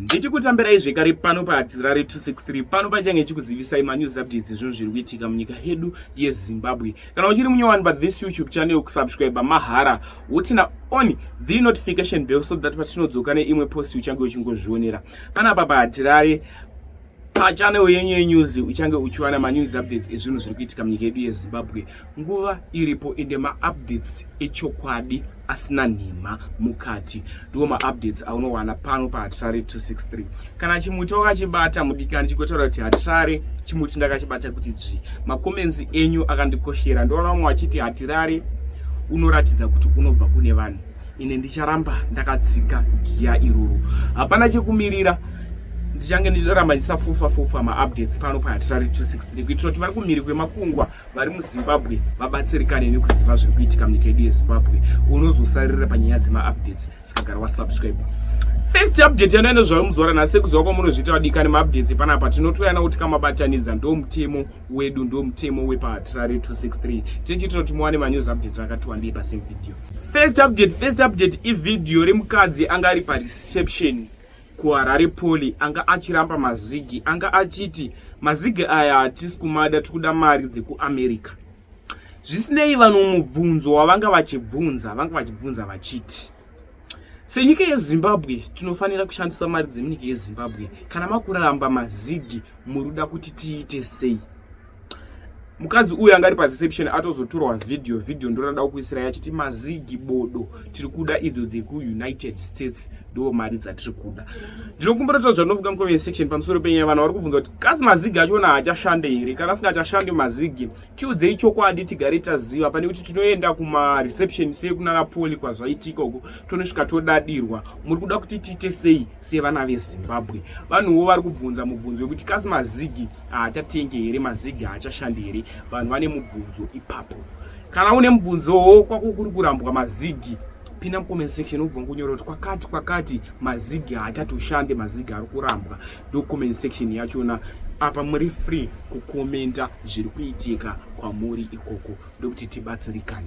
ndichikutambirai zvekare pano paatirare 263 pano pachange chikuzivisai manews updates ezvinhu zviri kuitika munyika yedu yezimbabwe kana uchiri munyowani pathis youtube channel kusubscribe mahara wotina on the notification bell so that patinodzoka neimwe post uchange uchingozvionera panapa paatirare pachannel yenyu yenews uchange uchiwana manews updates ezvinhu zviri kuitika munyika yedu yezimbabwe nguva iripo ende maupdates echokwadi asina nhema mukati ndiwo maupdates aunowana pano pahatirare 263 kana chimuti wakachibata mudikani chigotaura kuti hatirare chimuti ndakachibata kuti dzvi makomenzi enyu akandikoshera ndoona vamwe vachiti hatirare unoratidza kuti unobva kune vanhu ine ndicharamba ndakatsika giya iroro hapana chekumirira ndichange ndichiramba ndisafufa fufa maupdates pano pahatirari 263 kuitira kuti vari kumhiri kwemakungwa vari muzimbabwe vabatsirikane nekuziva zviri kuitika munyika yedu yezimbabwe unozosarira panyaya dzemaupdates sikagara wasubscribe first update yanoya nezvayo muzuva ranhasi sekuziva kwamunozviita vadikani maupdates epanapa tinotoyana kuti kamabatanidza ndo mutemo wedu ndo mutemo wepahatirari 263 tichiitira kuti muwane manews updates akatiwandei pasame video First update, first update ivideo remukadzi anga ari pareception kuHarare Poly anga achiramba mazigi anga achiti mazigi aya hatisi kumada tikuda mari dzekuAmerica. Zvisinei vanhu mubvunzo wavanga vachibvunza vanga vachibvunza vachiti senyika yezimbabwe tinofanira kushandisa mari dzemunyika yezimbabwe kana makuramba mazigi muruda kuti tiite sei mukadzi uyu anga ari pareception atozotorwa video video ndorada kukuisira yachiti mazigi bodo tiri kuda idzo dzekuunited states ndo mari dzatiri kuda ndinokumbira kuti zvanovuka mucomment section pamusoro penyaya vanhu vari kubvunza kuti kasi mazigi achona haachashande here kana asingachashande mazigi tiudzei chokwadi tigare taziva pane kuti tinoenda kumareception sekunana poli kwazvaitika uku tonosvika todadirwa muri kuda kuti tiite sei sevana vezimbabwe vanhuwo vari kubvunza mubvunzo wekuti kasi mazigi haachatengi here maziga haachashandi here vanhu vane mubvunzo ipapo kana une mubvunzowo kwakukuri kurambwa mazigi pinda mucomment section ubva kunyora kuti kwakati kwakati mazigi haachatoshande mazigi ari kurambwa ndocoment section yachona apa muri free kukomenta zviri kuitika kwamuri ikoko ndokuti tibatsirikane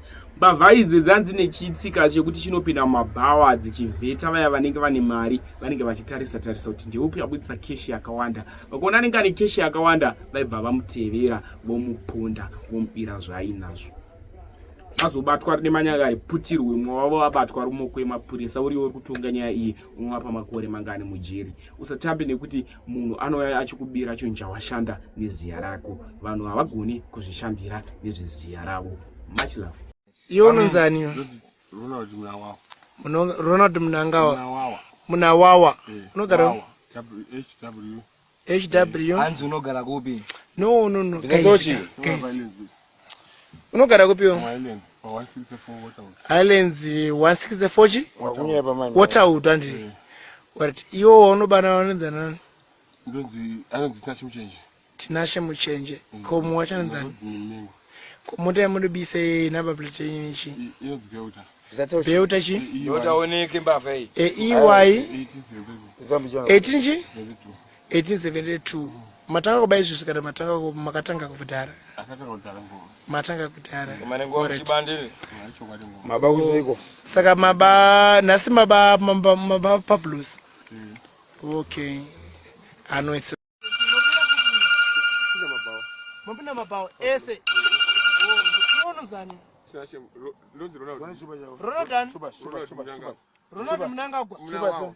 Mbavha idzi dzanzi nechitsika chekuti chinopinda mumabhawa dzichivheta vaya vanenge vane mari vanenge vachitarisa tarisa kuti ndeupi abudisa keshi yakawanda. Vakaona anenge ane keshi yakawanda vaibva vamutevera vomuponda vomubira zvaainazvo. Azobatwa rine manyanga ari putirwe mumwe wavo vabatwa rumoko yemapurisa uriwo uri kutonga nyaya iyi unovapa makore mangani mujeri. Usatambe nekuti munhu anouya achikubira chinhu chawashanda neziya rako vanhu havagoni kuzvishandira nezveziya ravo much love iwe unonzani ronald munangawa munawawa eh, unogara hw no no no guys, guys. unogara kupi iwe highlands 164 chi waterwood andiri eh. but iwo waunobana vanonzi nani tinashe muchenje mm. ko mumwe wacho anonzi ani mm, ko mota yamunobisa yei number plate yenyu chi beuta chi eiy 18 chi 1872 matanga kuba izvi zvikada matanga makatanga kudhara matanga kudhara saka maba nhasi maba maba pablos mm. okay anoitsa mapinda mabawa ese unonzani ronald munangagwa